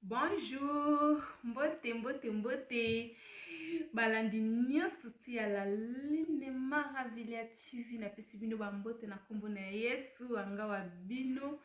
Bonjour, mbote mbote mbote balandi nyonso ti ya la line maravilia tv napesi bino bambote na nkombo na yesu angawa bino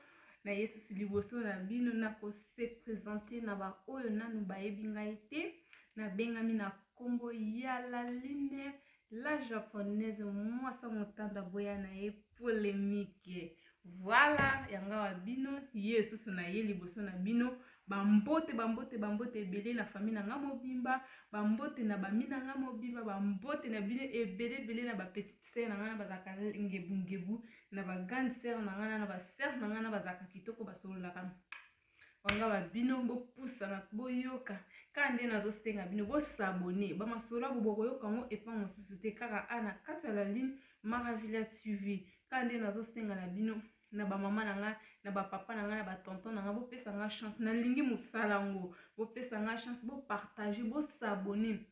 na yesus liboso na bino nakose presente na baoyo nanu bayebi ngai te nabengami na nkombo ya laline la japonaise mwasa motanda boya na ye polemike voila yangawa bino yesus na ye liboso na bino bambote bambote bambote ebele na fami na nga mobimba bambote na bami na nga mobimba bambote na bino ebele ebele na bapetite sere na ngai na bazalaka ngebungebu na ba grande sœur na ngai na ba sœur na ngai na bazalaka kitoko basololaka wanga ba bino bopusana boyoka kaka nde nazosenga bino bosabone bamasolo yango bokoyoka yango epa mosusu te kaka a na kati ya la ligne maravilla tv kaka nde nazosenga na bino na bamama na ngai na bapapa na ngai na batonton na ngai bopesa ngai chance nalingi mosala yango bopesa ngai chance bopartage bosabone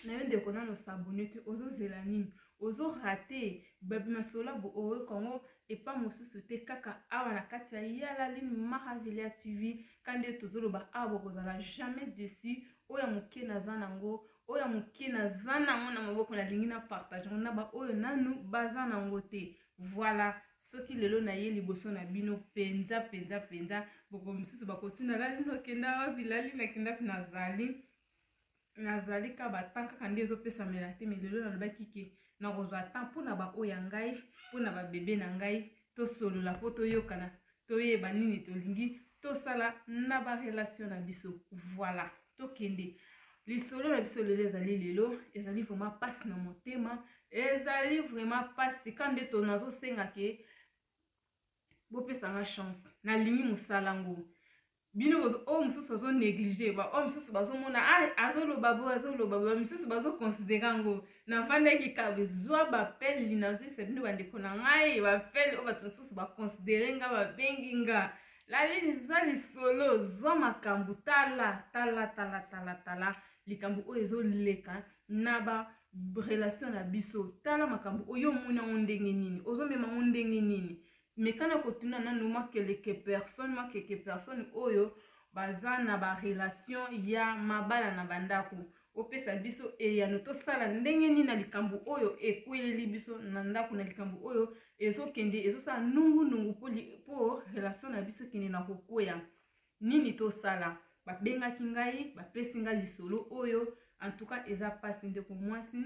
na yo ndeko nano sabone te ozozela nini ozo rate babi masolabu oyo kongo epa mosusu te kaka awa na kati ya yalalin maravilia tv kande tozoloba awa bokozala jamais dessus oyo ya moke naza nango oyo ya moke naza nango na maboko nalingi na partage na baoyo nanu baza nango te voilà soki lelo naye liboso na bino mpenza mpenza mpenza boko mosusu bakotuna lali nokenda wapi lali nakenda nazali nazali ka batemp kaka nde ezopesamela te me lelo nalobaki ke nakozwa temps mpo na baoyo ya ngai mpo na babebe na ngai tosolola mpo toyokana toyeba nini tolingi tosala na barelation na biso voilà tokende lisolo na biso lelo ezali lelo ezali vraiment mpasi na motema ezali vraiment mpasi ka nde to nazosenga ke bopesanga chance nalingi mosala ngo bino bozo oyo mosusu azo neglige baoyo mosusu bazomona ah, azoloba boye azoloba boye mosusu bazoconsidere yango navandaki kabe zwa bapele linazwisa bino bandeko na ngai bapele oyo bato mosusu baconsidere nga babengi nga laleli zwa lisolo zwa makambo tala tala tala tala tala likambo oyo ezoleka na ba relation na biso tala makambo oyo omoni yango ndenge nini ozomema yango ndenge nini meka na kotuna nanu mwa keleke personne mwa keke personne oyo baza na barelation ya mabala na bandako opesa biso eyano tosala ndenge nini na likambo oyo ekweleli biso na ndako na likambo oyo ezokende ezosala nungunungu mpo relation na biso kende na kokweya nini tosala babengaki ngai bapesi ngai lisolo oyo antuka eza mpasi ndeko mwasi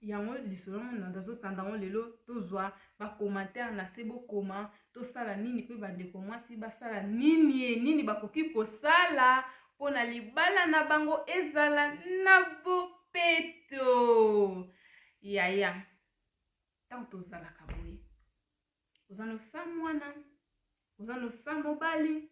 yango lisolo yango nanda azotanda yango lelo tozwa bacommentaire na se bokoma tosala nini mpe bandeko mwasi basala nini e nini bakoki kosala mpo na libala na bango ezala na bopeto yaya ntango tozalaka boye oza nosa mwana oza nosa mobali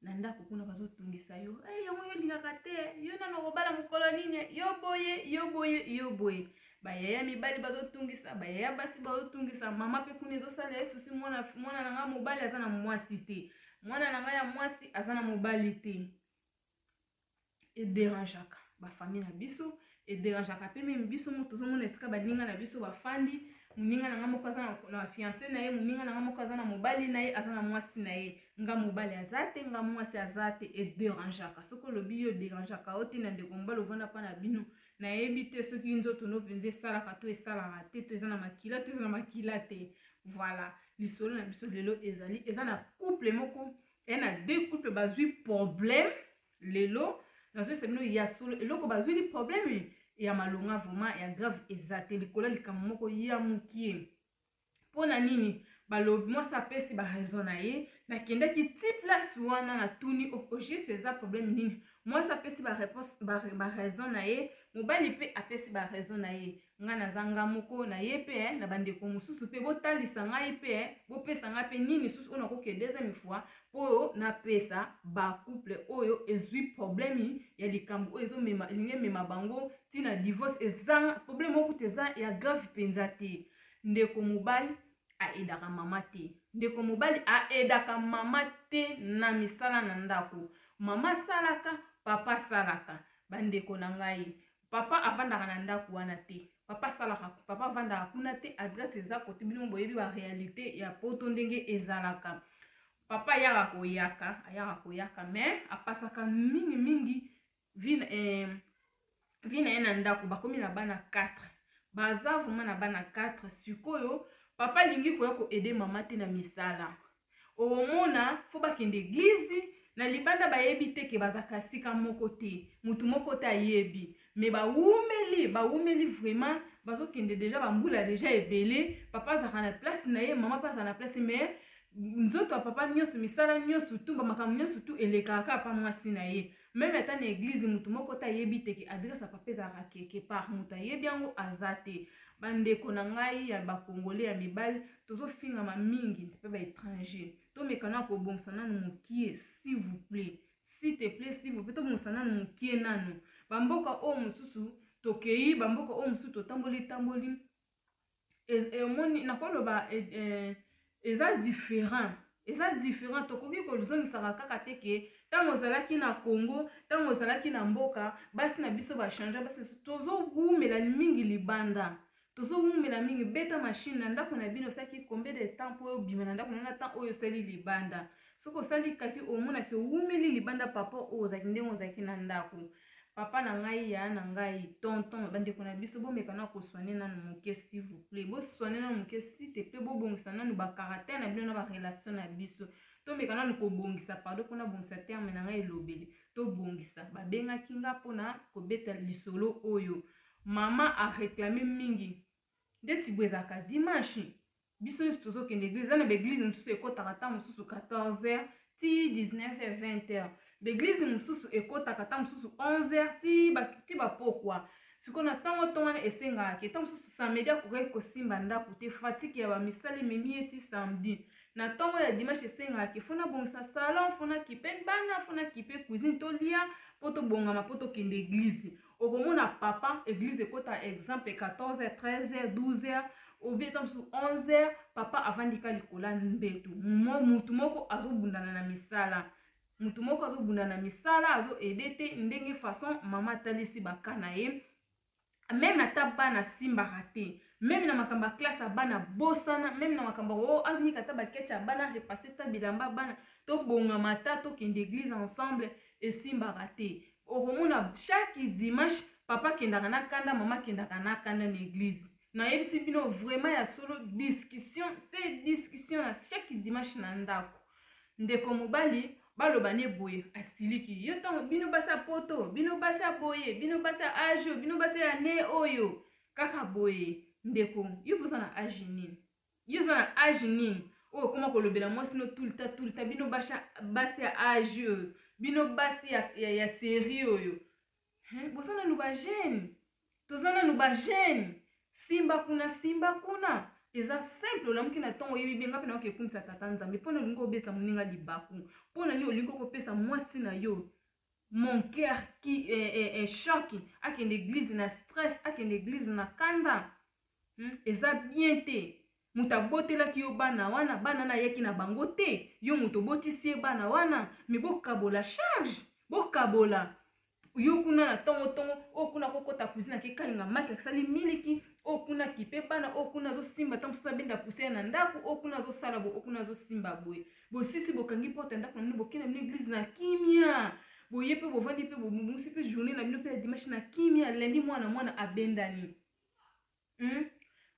na ndako kuna bazotungisa yo hey, eh, yango yo olingaka te yo nano okobala mokolo nini yo boye yo boye yo boye bayaya mibali bazotungisa bayaya basi bazotungisa mama mpe kuna ezosala ye susi mwana, mwana na ngai mobali aza na mwasi te mwana na ngai ya mwasi aza na mobali te ederangeaka bafamille na biso ederangeaka mpe meme biso moto tozomona esika baninga na biso bafandi moninga na ngai moko aza na fianse na ye moninga na ngai moko aza na mobali na ye aza na mwasi na ye nga mobali aza te nga mwasi aza te ederangeaka soki olobi yo ederangeaka yo te na ndeko mobali ovanda mpa na bino nayebi te soki nzoto no mpenza esalaka to esalaka te to eza na makila to eza na makila te voilà lisolo na biso lelo ezali eza na couple moko e na deux couple bazwi problème lelo nazoyesa bino ya solo eloko bazwili problème ya malonga vraiment ya grave eza te likolo ya likambo moko ya mokie mpo na nini balobi mwasi apesi baraison na ye nakendaki ti place wana natuni ogeste eza problème nini mwasi apesi baraison na ye mobali mpe apesi baraison na ye Nga naza nga moko na ye pe eh, na ba ndeko mususu pe bo talisa ngai pe eh, bo pesa ngai pe nini susu oyo na ko ke deuxième fois po na pesa ba couple oyo ezui problème ya likambo oyo ezo mema elingi emema bango ti na divorce eza problème oyo kutu eza ya grave penza te ndeko mobali aedaka mama te ndeko mobali aedaka mama te na misala na ndako mama asalaka papa asalaka bandeko na ngai Papa avandaka na ndaku wana te. Papa asalaka papa avandaka kuna te adresse eza kote bino boyebi ba realite ya poto ndenge ezalaka. Papa ayaka koyaka ayaka koyaka mais apasaka mingi mingi vie na eh, vie na ye na ndaku bakomi na bana 4 baza vraiment na bana 4 sikoyo papa alingi koya ko aider mama te na misala okomona fo bakende eglize na libanda bayebi te ke bazaka esika moko te motu moko te ayebi me bawumeli bawumeli vraiment bazokende deja bambula deja ebele papa azalaka na place na ye mama mpe azala na place me nzoto ya papa nyonso misala nyonso tu bamakambo nyonso tu elekaka kaka pa mwasi na ye Meme ata na eglise mutu moko te ayebi te ke adresse ya papa ezalaka quelque part mutu ayebi yango aza te ba ndeko na ngai ya ba congolais ya mibali tozo fingama mingi pe ba etranger to meka na ko bongisa nanu mukie s'il vous plait s'il te plait s'il vous plait to bongisa nanu mukie nanu ba mboka oyo mosusu tokei ba mboka oyo mosusu totamboli tamboli omoni nakoloba eh, eza différent eza différent tokoki kozongisaka kaka te ke ntango ozalaki na congo ntango ozalaki na mboka basi na biso bachange basi na biso tozowumela mingi libanda tozowumela mingi beta mashine na ndako na bino osalaki combien de temps mpo obima na ndako na na temps oyo osali libanda soki osali kaki omonaki owumeli libanda papa oyo ozalaki ndenge ozalaki na ndako Papa na ngai yaya na ngai tonton ba ndeko na biso bo meka na ko soigner nanu muke s'il vous plait bo soigner nanu muke s'il te plait bo bongisa nanu ba caractère na bino na ba relation na biso to meka nanu ko bongisa pardon pona bongisa terme na ngai elobeli to bongisa ba bengaki nga pona ko beta lisolo oyo mama a reclamer mingi ndeti bwezaka dimanche biso nyoso tozokende eglise eza na baeglise mosusu ekotaka ntango mosusu 14 heures ti 19 heures 20 heures baeglise mosusu ekotaka ntango mosusu 11 heures ti bapokwa ba sikoyo na ntango ntongo wana esengaka ke ntango mosusu samedi akokaki kosimba ndako te fatike ya bamisala ememi ye ti samedi na ntongo ya dimanche esengaka ke fona bongisa salon fona kipe bana fona kipe cuisine tolia mpo tobongama mpo tokende eglize okomona papa eglise ekota exemple 14 heures 13 heures 12 heures obie ta mosusu 11 heures papa avandika likola mbetu motu moko azobundana na misala motu moko azobunda na misala azoede te ndenge façon mama atalisi baka na ye meme ata bana asimbaka te meme na makambo ya classe ya bana bosana meme na makambo o oh, anika ata bakecha ya bana repasse ta bilamba bana tobongama ata tokende eglise ensemble esimbaka te Okomona chaque dimanche papa akendaka na kanda mama akendaka na kanda na eglise. Nayebisi bino vraiment ya solo discussion se discussion na chaque dimanche na ndako. Ndeko mobali baloba ne boye asiliki yo ntango bino basi ya poto bino basi ya boye bino basi ya age oyo bino basi ya ne oyo kaka boye ndeko yo boza na age nini yo oza na age nini oyo okoma kolobela mwasi no tulta tulta bino basha basi ya age oyo bino basi ya, ya, ya serie oyo boza nanu bagene toza nanu bagene simba kuna simba kuna eza simple olamuki na ntongo oyebi bie ngai mpe nayoki ekumisa tata nzambe mpo na olingi obesa moninga libaku mpo na nini olingi okopesa mwasi na yo mon cœur qui eh, eh, eh, choque akende église na stress akende église na kanda Hum eza bien te mutu abotelaki yo bana wana bana wana ayaki na bango te yo mutu obotisi ye bana wana mais bokabola charge bokabola yo kuna na tongo tongo oyo oh, kuna kokota cuisine ake kalinga maki asali miliki oyo oh, kuna kipe bana oyo oh, kuna azosimba ntango mosusu abenda puse na ndako oyo kuna azosala boye oyo kuna azosimba boye bosisi bokangi porte ya ndako na bino bokenda bino eglize na kimia boye mpe bovandi mpe bomusi mpe journée na bino mpe ya dimanche na kimia lendi mwana mwana abendani hmm?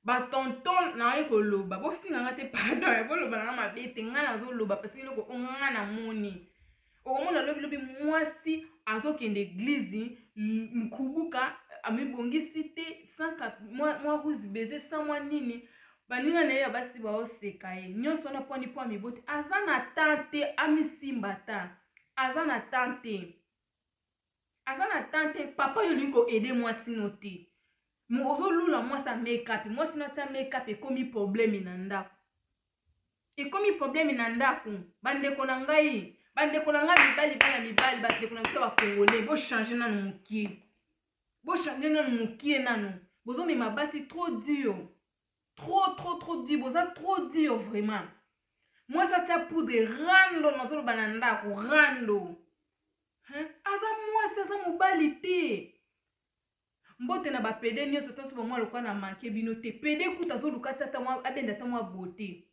batonton naye koloba bofinga nga te pardon ya boloba nanga mabe te ngai nazoloba parce eloko o ngai namoni okomona lobilobi mwasi azokende eglize nkubuka amibongisi te mwa ruse beze sa mwa nini baninga na ye ya basi baoseka ye nyonso wana mponi mpo amiboti aza na tan te amisimba ta aza na tan te aza na temps te papa yo olingi koaide mwasi no te ozolula mwasi ya makeup mwasi no atya makeup ekomi probleme na ndako ekomi probleme na ndako bandeko na ngai bandeko na ngai mibali bana mibali bandeko na biso bakongole bochange nano mokie bochange nano mokie nano bozomema basi trop dur trop trop trop dur boza trop dur vraiment mwasi atya poudre rando nazoloba na ndako rando Hein? Aza mwasi aza mobali te. Mbote na ba pede nioso tanso ba mwa lokwa na manke bino te. Pede kuta zo lukati ata mwa abenda ata mwa beauté.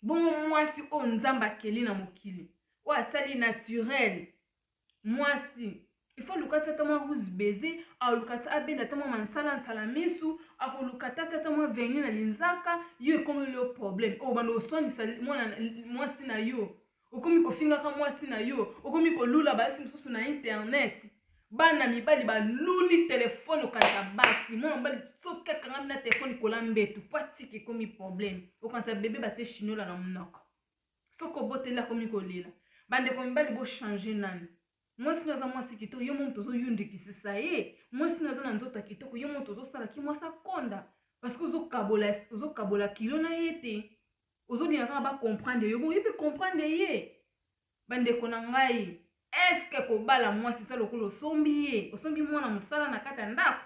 Bongo mwasi oyo Nzambe akeli na mokili. Oyo asali naturel. Mwasi ifo aluka ti ata mwa ruse baiser aluka ti abenda ata mwa mansala nsala misu akoluka ta ti ata mwa verni na linzaka yo ekomeli yo problème oyo banda oswanisa mwasi na yo okomi kofingaka mwasi na yo okomi kolula basi mosusu na internet bana mibali baluli telefone okanisa basi mwana mobali soki akangami na telefone kola mbetu mpo atika ekomi probleme okanisa bebe batie chinola na monoko soki oboteli akomi kolela bandeko mibali bochange nani mwasi no aza mwasi kitoko yo moto ozoyundikisisa ye mwasi no aza na nzoto ya kitoko yo moto ozosala ki mwasi akonda parceke ozokabola kilo na ye te ozolinga kaka ba comprendre yo boye pe comprendre ye bandeko na ngai eske kobala mwasi eza lokola osombi ye osombi mwana mosala na kati ya ndako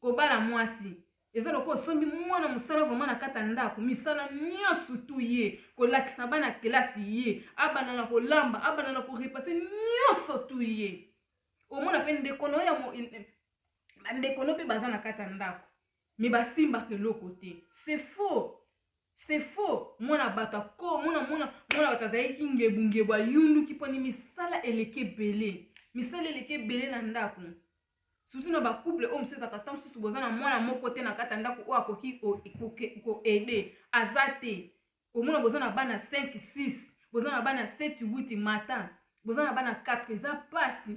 kobala mwasi eza lokola osombi mwana mosala vraimen na kati ya ndako misala nyonso tu ye kolakisa bana kelasi ye abanda na kolamba abanda na korepase nyonso tu ye omona mpe ndeko no ya bandeko no mpe baza na kati ya ndako mais basimbaka eloko te c'est faux c'est faux mwana bato ako mwana mwana mwana bato azalaki ngebungebu ayunduki mponi misala eleki ebele misala eleki ebele na ndako surtout na bacouple oyo mosusu ezalaka ntango mosusu boza na mwana moko te na kati ya ndako oyo akoki koaide aza te omona boza na bana 5 6 boza na bana 7 8 matin boza na bana 4 eza mpasi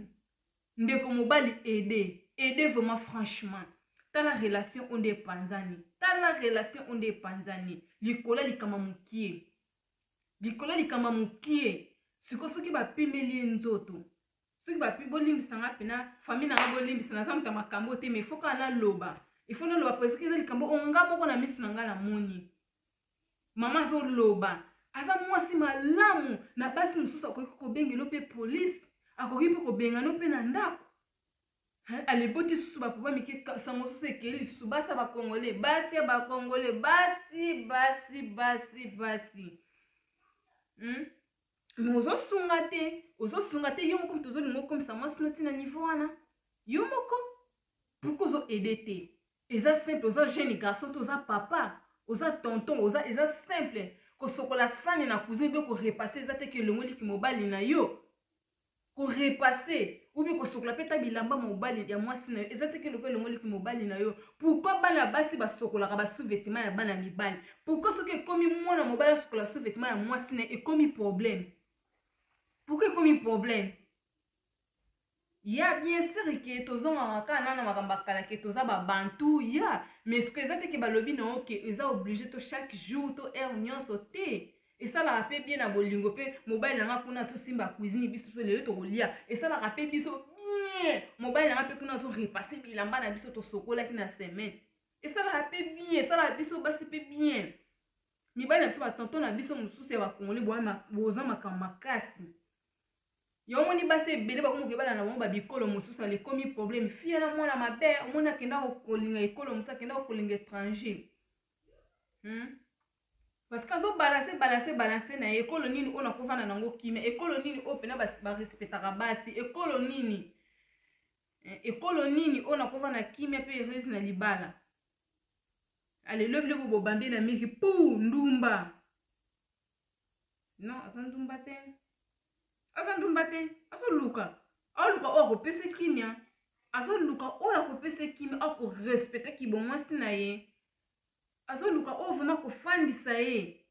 ndeko mobali ede ede vraiment franchement tala relation onde epanzani tala relation onde epanzani likolo ya likama mokie likolo ya likama mokie siko soki bapimeli ye nzoto soki bapi bolimbisa nga mpena famille nanga bolimbisa naza moto ya makambo te mais fo kaka naloba ifo naloba preseke eza likambo onga moko na miso na ngai namoni mama azoloba aza mwasi malamu na basi mosusu akoki kobengelo mpe polise akoki mpe kobengano mpe na ndako aliboti susu bapapa mike sango susu ekeli lisusu basi ya bakongole basi ya bakongole basi basi basi basi hmm? me ozosunga te ozosunga te yo moko moto ozolinga okomisa mwasi no ntina niveau wana yo moko pourkui ozoede te eza simple oza jeune garçon to oza papa oza tonton oza eza simple kosokola sani na cousine obe korepasse eza te ke elongoli kimobali na yo korepasse obi kosokola mpe ta bilamba mobali ya mwasi na yo eza te ke eloko elongoli kimobali na yo pourkui bana basi basokolaka basouvetement ya bana mibali pourkui soki ekomi mwana mobali asokola souvetement ya mwasi na ye ekomi problème pourkui ekomi problème ya bien sur ke tozongaka kaka nana makambo ya kala ke toza babantu ya mais soki eza te ke balobi na yo ke eza oblige to chaque jour to heure nyonso te esalaka mpe bien na bolingo mpe mobali na nga kuna azosimba cuisine biso mpe lelo tokolia esalaka mpe biso bien mobali na nga mpe kuna azorepasse bilamba na biso tosokolaki na semaine esalaka mpe bien esalaka biso basi mpe bien mibali na biso batonton na biso mosusu ya bakongole boza makambo makasi Yo omoni basi ebele bakomi koyebana na bango ba bikolo mosusu alikomi problème fille na mwana mabe omoni akenda kolinga ekolo mosusu akenda kolinga étranger hmm? parce que azobalanse balanse balanse na ye ekolo nini oyo nakovanda na yango kimia ekolo nini oyo mpena barespectaka basi ekolo nini eh, ekolo nini oyo nakovanda na kimia mpe heureuse na libala alelobi lobo bobambi na miki pu ndumba non aza ndumba te aza ndumba te azoluka aoluka oyo akopesa kimia azoluka oyo akopesa kimia akorespecte kibomwasi na ye azoluka oyo vraimen akofandisa ye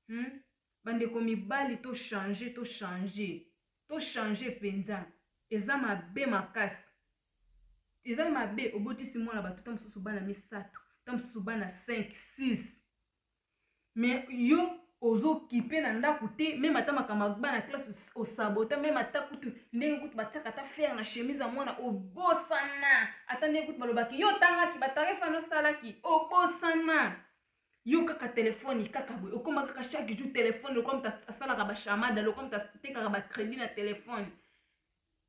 hmm? bandeko mibali tochange tochange tochange mpenza eza mabe makasi eza mabe obotisi mwana bato ta mosusu bana misato ta mosusu bana 5 6 mais yo ozokipe na ndako te meme ata makambo agba na classe osabota meme ata kutu ndenge kutu batiaka ata fere na chemise ya mwana obosana ata ndenge kutu balobaki yo otangaki batarefa na osalaki obosana yo kaka telefone kaka boye okoma kaka chaque jour telefone lokola moto asalaka bashamada lokola moto atekaka bacrédit na telefone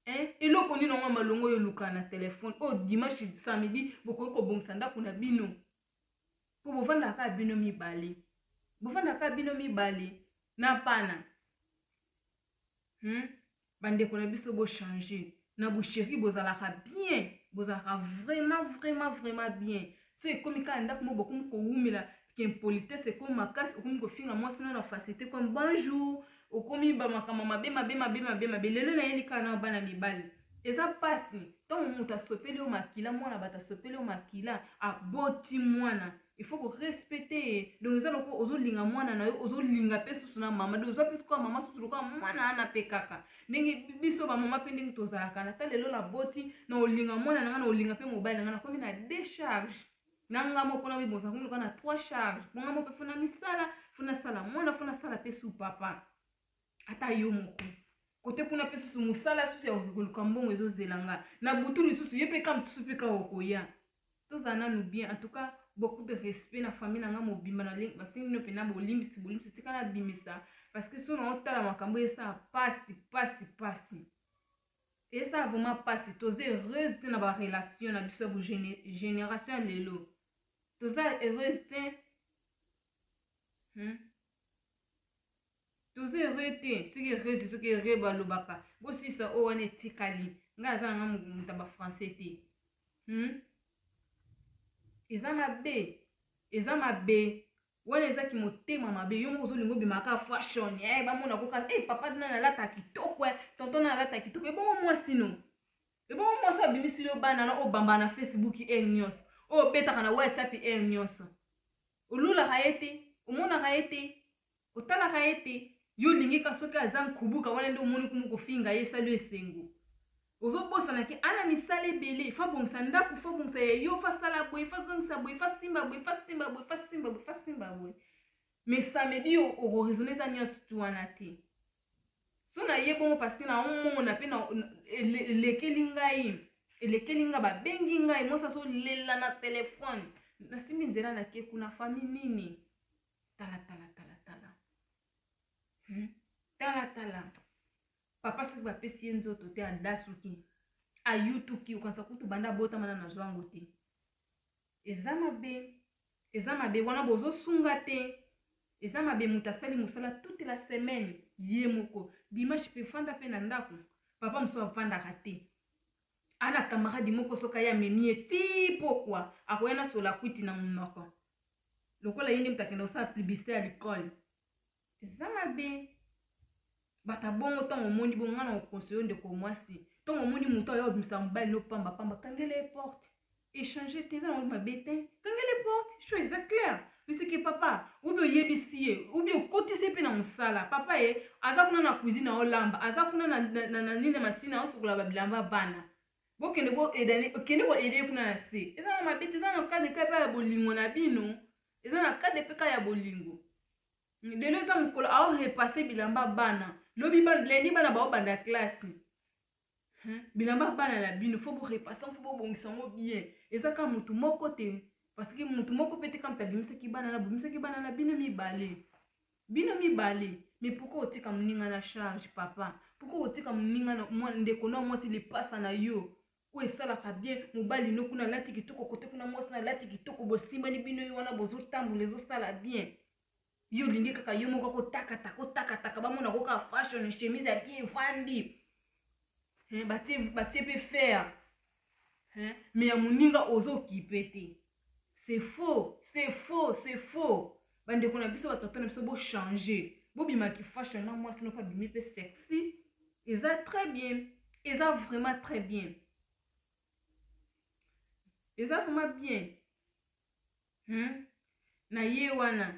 Eh, eloko nini yango malongo oyo oluka na telefone oyo oh, dimanche samedi bokoki kobongisa ndako na bino mpo bofandaka kaka bino mibale bofandaka kaka bino mibale na pana hmm? bandeko na biso bochange na busheri bozalaka bien bozalaka vraiment vraiment vraiment bien so ekomi kaka ndako mo bokomi kowumela impolitesse ekomi makasi okomi kofinga mwasi no na facilité comme bonjour okomi bamakambo mabe mabe mabe mabe mabe lelo nayeli kaka na bana mibali eza mpasi ntango moto asopeli yo makila mwana bato asopeli yo makila aboti mwana il faut korespecte ye donc eza lokola ozolinga mwana na yo ozolinga mpe susu na mama donc oza mpe sukoya mama susu lokola mwana wana mpe kaka ndenge biso bamama mpe ndenge tozalaka na ta lelo naboti na olinga mwana na ngai na olinga mpe mobali na ngai nakomi na decharge na ngai moko na bibonza komi lokola na trois charge bonga moko mpe fona misala fona sala mwana fona sala mpe su papa ata yo moko kote kuna mpe susu mosala susu ya koki koluka mbongo ezozela nga na butu lisusu ye mpe ka mosusu mpe kaka okoya tozala nanu bien antuka beaucoup de respect na famille na nga mobimba basengi no mpena bolimbisi bolimbisi tika nabimisa parce que so na otala makambo esala pasi pasi pasi esala vraiment pasi toza heureuse te na barelation na biso ya bogénération ya lelo toza heureuse te hmm? toza heureux te soki heureuse soki heureux balobaka bosisa oyo wana etikali ngai aza na ngai moto ya bafrançais te hmm? eza mabe eza mabe wana eza kimotema mabe yo moko ozolinga obimaka fashion eh, bamona koka hey, eh, papa na nalata kitoko eh, tonton na nalata kitoko ebongo mwasi no ebongo mwasi oyo abimisi yo bana na oyo bambaka na facebook heure nyonso oyo obetaka na whatsapp heure nyonso olulaka ye te omonaka ye te otalaka ye te yo olingi ka soki aza nkubuka wana nde omoni kumu kofinga ye esali esengo ozobosana ke ana misala ebele fa bongisa ndako fa bongisa ya yo fa sala boye fa zongisa boye fa simba boye fa simba boye fa simba boye fa simba boye mais samedi yo okoresone ta nyonso tu wana te so na ye bongo parce que na omona pe na elekeli ngai elekeli ngai babengi ngai mwasi azolela na telefone nasimbi nzela nake kuna fami nini talatala talatala hmm? talatala papa soki bapesi ye nzoto te adasuki ayutuki okanisa kutu banda abotamana na zwango te eza mabe Eza mabe wana bozo sunga te eza mabe mutu asali musala toute la semaine ye moko dimanche pe fanda pe na ndaku papa mususu avandaka te ana camarade moko soki aye amemi ye ti pokwa akoya na sola kwiti na munoko lokola ye nde mutu akenda kosala publicité ya likole eza mabe bata bongo ntango omoni bongo ngai na okonseyo ndeko mwasi ntango omoni moto aya obimisa mobali no pamba pamba kangela ye porte echange te eza nango mabe te kangela ye porte sho eza claire eseke papa obi oyebisi ye obi okotisi ye mpe na mosala papa ye aza kuna na cuisine na olamba aza kuna na, na, na, na nini masini aosokola babilamba bana bokende boedani okende koede ye kuna na se eza na mabe te eza na kade kaka ya bolingo na bino eza na kade mpe kaka ya bolingo lelo eza mokolo ao repasse bilamba bana lobi ba, lendi bana baobanda classe hmm? bilamba bana na bino fo borepasse yango fo bobongisa yango bien eza kaka motu moko te parce que motu moko mpe te kaka moto abimisaki bana na bobimisaki bana na bino mibale bino mibale mais pourkoi otika moninga na charge papa pourkoi otika moninga ndeko na mwasi lipasa na yo oyo esalaka bien mobali no kuna alati kitoko kote kuna mwasi na alati kitoko bosimbani bino ye wana bozotambola ezosala bien yo olingi kaka yo moko kotakataka otakataka bamona ko kaka fashion chemise ya bien evandi batie mpe fer me ya moninga ozokipe te C'est faux, c'est faux, c'est faux. Ba ndeko na biso ba tonton na biso bo changer. Bo bima ki fashion na mwasi no pa bimi pe sexy. Eza très bien. Eza vraiment très bien. Eza vraiment bien. Hmm? Na ye wana.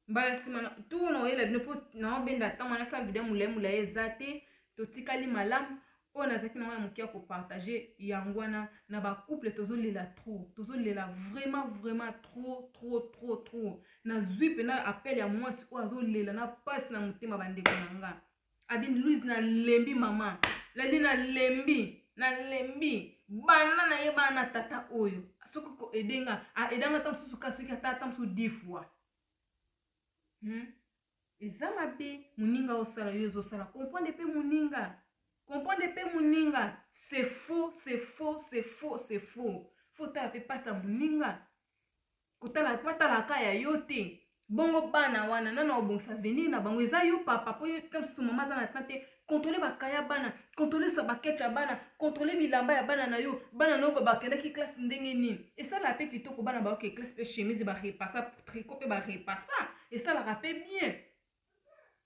mbala nsima tour na oyela bino mpo naobenda ntango wana sa video molai molai eza te totikali malamu oyo nazalaki na wana moke ya kopartage yango wana na bacouple tozolela trop tozolela vraiment vraiment trop trop trop trop nazwi mpena appel ya mwasi oyo azolela na mpasi na motema bandeko na nga abini louise nalembi mama lali nalembi nalembi bana na ye bana tata oyo soki koede nga aeda nga ata mosusu ka soki ata ata mosusu di fois hmm? eza mabe moninga osala yo ezosala comprendre mpe moninga comprendre mpe moninga c'est faux c'est faux c'est faux c'est faux fo otala mpe mpasi ya moninga kotala po atala ka ya yo te bongo bana wana nana obongisa avenir na bango eza yo papa po yo ta mosusu mama aza na tan te kontrole bakaya bana kontrole sabakete ya bana kontrole bilamba ya bana na yo bana na yo bakendaki classe ndenge nini esalaka mpe kitoko bana bayoke classe mpe chemise barepasa triko mpe barepasa esalaka mpe bien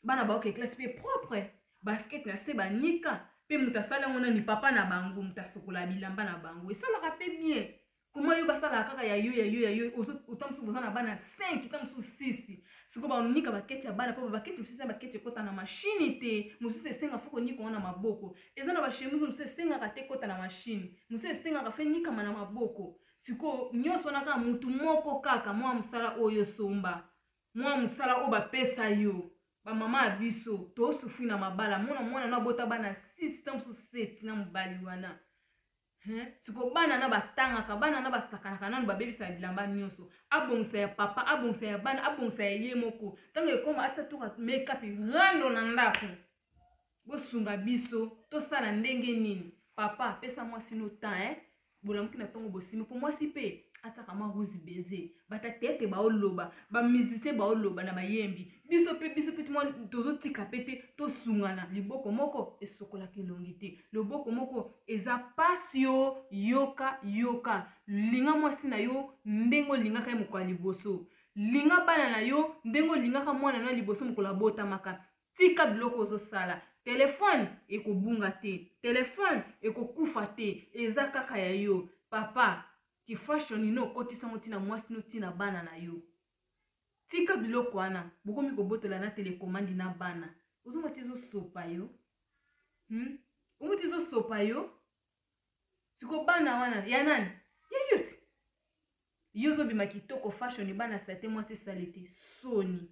bana baoke classe mpe propre basket na se banika mpe moto asali yango nani papa na bango moto asokola bilamba na bango esalaka mpe bien koma yo basalaka kaka ya yo ya yo ya yo ota mosusu boza na bana 5 ta mosusu 6 sikoyo banika baketi ya bana mpo baketi mosusu ya baketi ekota na mashini te mosusu esenga fo konika yango na maboko eza na bashemise mosusu esengaka te ekota na mashini mosusu esengaka fe nikama na maboko sikoyo nyonso wana kaka motu moko kaka mwa mosala oyo osomba Mua musala oyo ba pesa yo. Ba maman ya biso to souffrir na mabala mona mwana no abota bana 6 tango mosusu 7 na mobali wana Hein? siko bana na batangaka bana na basakanaka nanu babebisaka bilamba nyonso abongisa ya papa abongisa ya bana abongisa ya ye moko ntango ekoma atia toka makeup rando na ndako Bosunga biso tosala ndenge nini. Papa pesa mwasi no temps hein bolamuki na tongo bosimi po mwasi pe atiaka mwa ruzi baiser bata tete bao loba ba musicien bao loba na ba yembi biso pe biso pe mwa tozo tika pe te tosungana liboko moko esokolaka elongi te loboko moko eza pasi o yoka yoka linga mwasi na yo ndenge olingaka ye mokolo ya liboso linga bana na yo ndenge olingaka mwana na liboso mokolo abotamaka tika biloko ozosala telefone ekobunga te telefone ekokufa te eza kaka ya yo papa kifashion ino okotisango ntina mwasi no ntina bana na yo tika biloko wana bokomi kobotola na telekomandi na bana ozonga te ezosopa yo hmm? omuti ezosopa yo siko bana wana ya nani ya yo ti yo ozobima kitoko fashion bana sate mwasi esali te soni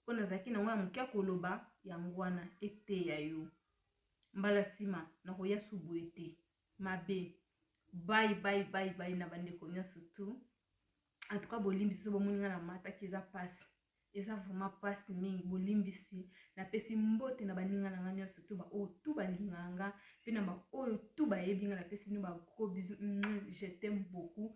mpo nazalaki na yango ya moke ya koloba yango wana eteya yo mbala nsima nakoya su boye te mabe bai bai bai bai na bandeko nyonso tu antuka bolimbisi so bomoni ngai namataki eza mpasi eza vraiment mpasi mingi bolimbisi napesi mbote na baninga na ngai nyonso tu baoyo tu balingaka nga mpe na baoyo tu bayebi nga napesi bino bagros bisu je t'aime beaucoup